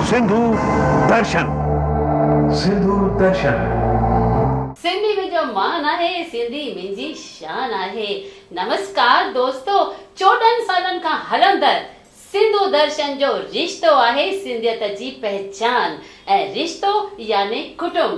سنڌو درشن سنڌو درشن. سنڌي منهنجو مان آهي، سنڌي منهنجي شان آهي. نمسڪار دوستو، چوڏهن سالن کان هلندڙ سنڌو درشن جو رشتو آهي سنڌيت جي پهچان ۽ رشتو يعني ڪٽنب.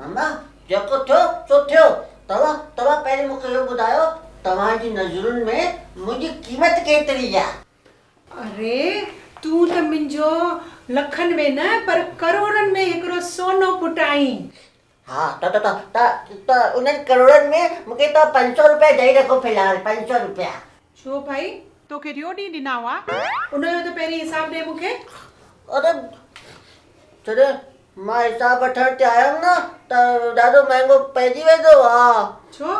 ماما، جيڪو ٿيو سو ٿيو، توهان توهان پهرين مون کي اهو ٻڌايو، توهان جي نظرن ۾ منهنجي قيمت ڪيتري آ؟ اري، تون ته منهنجو لکن ۾ نه پر ڪروڙن ۾ هڪڙو سونو پٽ آهين. ها، ته ته ته ته ته انهن ڪروڙن ۾ مون کي توهان پنج سؤ روپيا ڏئي رکو في الحال، پنج سؤ روپيا. ڇو ڀائي؟ توکي ٽيو ڏينهن ڏنا هئا. ان جو ته پهرين حساب ڏي مون کي. اڙي! جڏهن مان حساب وٺڻ تي آيم نه ته ڏاڍو مهانگو پئجي ويندو هو. ڇو؟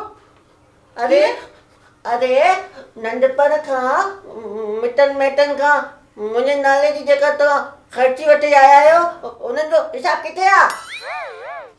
اڙي! ڪيئن؟ اڙي! ننڍپڻ کان مٽن مائٽن کان منهنجي نالي جي جيڪا توهان خرچي وٺي آيا آهيو انهن جو حساب ڪٿي آ؟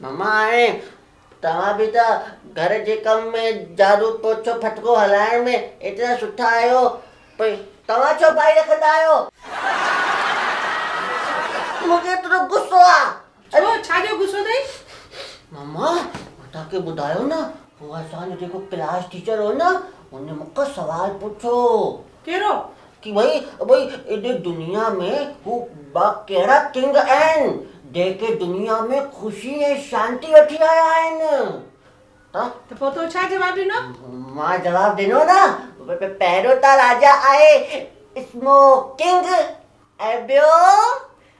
ماما هاڻي توهان به ته گهر جي ڪم ۾ جھاڙو پوڇو ڦٽڪو هلائڻ ۾ ايترا سٺا آهيو پوء توهان ڇو ٻائي رکندا آهيو. مون کي ايترو غصو آ. ڇو ڇا جو غصو اٿئي. ماما مان توهان کي ٻڌايو نه هو اسان جو جيڪو ڪلاس ٽيچر هو نه هن مون کان سوال پڇيو. ڪهڙو. ڪي وئي وئي ايڏي دنيا ۾ هو ٻا ڪهڙا ڪنگ آهن جيڪي دنيا ۾ خوشي ۽ شانتي وٺي آيا آهن ته ته پوء تو ڇا جواب ڏنو؟ مان جواب ڏنو نه پهريون ته راجا آهي اسمو ڪنگ ۽ ٻيو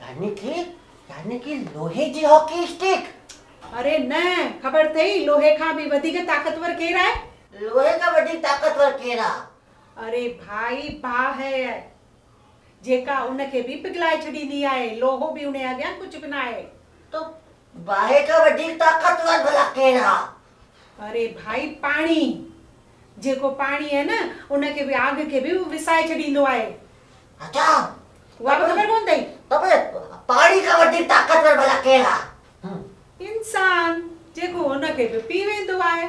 يعني ڪي يعني ڪي لوهي جي هاڪي اسٽڪ. اري نه خبر ٿئي لوهي کان به وڌيڪ طاقتور ڪير آهي؟ لوهي کان وڌيڪ طاقتور ڪير آ؟ اري ڀائي باهه آهي جيڪا ان کي به پگهلائي ڇڏيندي آهي لوهو به انهي اڳيان ڪجهه به ناهي. تو باهه کان وڌيڪ طاقتور ڀلا ڪين آ؟ اري ڀائي پاڻي جيڪو پاڻي آهي نه ان کي به آگ کي به وسائي ڇڏيندو آهي. اچا اها به خبر ڪونه اٿئي. ته پوء پاڻي کان وڌيڪ طاقتور ڀلا ڪين آ؟ انسان جيڪو ان کي به پي ويندو آهي.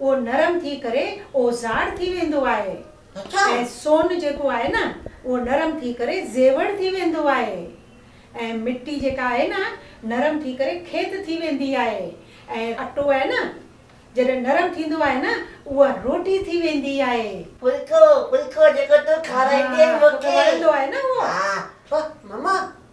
اهو نرم ٿي ڪري اوزاڙ ٿي ويندو آهي ۽ سون جيڪو آهي نه اهو نرم ٿي ڪري زيور ٿي ويندو آهي ۽ مٽي جيڪا آهي نه نرم ٿي ڪري کيت ٿي ويندي آهي ۽ اٽو آهي نه جڏهن نرم ٿيندو آهي نه اها روٽي ٿي ويندي آهي. ڦلڪو، ڦلڪو جيڪو تون کارائيندين مون کي. ها، توکي وڻندو آهي نه اهو. ها، ڦھ، مما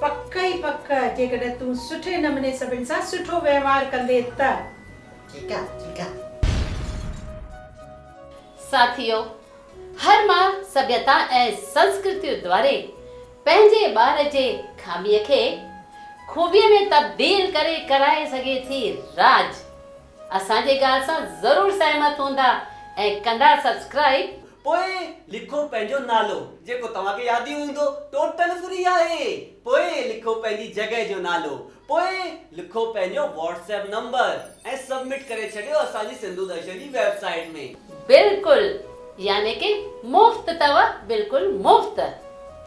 پڪ ئي پڪ جيڪڏهن تون سٺي نموني سڀن سان سٺو وهنوار ڪندي ته. ٺيڪ آ ٺيڪ آ. ساٿيو! هر ماء سڀيتا ۽ سنسڪرتيء دواري پنهنجي ٻار جي خاميء کي خوبيء ۾ تبديل ڪري ڪرائي سگهي ٿي راڄ. اسان جي ڳالهه سان ضرور سهمت هوندا ۽ ڪندا سبسڪرائيب. پوء لکو پنهنجو نالو جيڪو توهان کي ياد ئي هوندو ٽوٽل فري آهي پوء لکو پنهنجي جڳهه جو نالو پوء لکو پنهنجو واٽس ايپ نمبر ۽ سبمٽ ڪري ڇڏيو اسان جي سنڌو درشن جي ويب سائيٽ ۾. بلڪل يعني ڪي مفت تؤ بلڪل مفت.